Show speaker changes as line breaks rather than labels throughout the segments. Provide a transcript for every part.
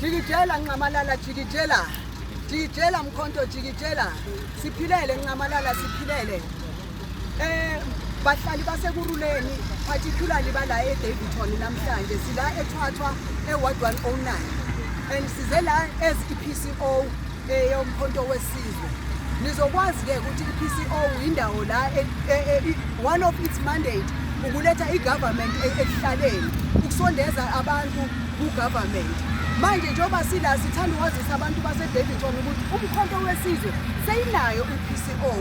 Jikijela Nxamalala jikijela jikijela Mkhonto jikijela siphilele Nxamalala siphilele eh bahlali basekuruleni particularly bala eDavidton namhlanje sila eThwathwa e-ward 109 and size la as i-PCO eyomkhonto wesizwe nizokwazi-ke ukuthi i-pco yindawo la e, e, e, one of its mandate ukuletha i-government ekuhlaleni ukusondeza abantu ku-government manje njengoba sila sithanda ukwazisa abantu basedavidson ukuthi umkhonto wesizwe seyinayo i-pco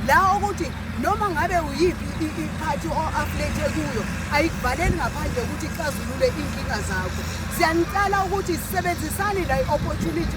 la ukuthi noma ngabe uyiphi iphathi o-aflethe kuyo ayikuvaleli ngaphandle ukuthi ixazulule iy'nkinga zakho siyanicela ukuthi sisebenzisane la i-opportunity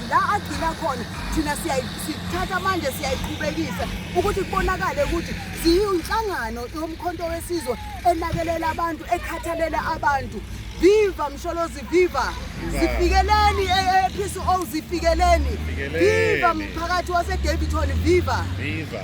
la agcina khona thina sithatha manje siyayiqhubekisa ukuthi kubonakale ukuthi siyinhlangano yomkhonto wesizwe enakelela abantu ekhathalela abantu viva msholozi viva zifikeleni e, e, ephisi o zifikeleni viva mphakathi wasedavitoni viva viva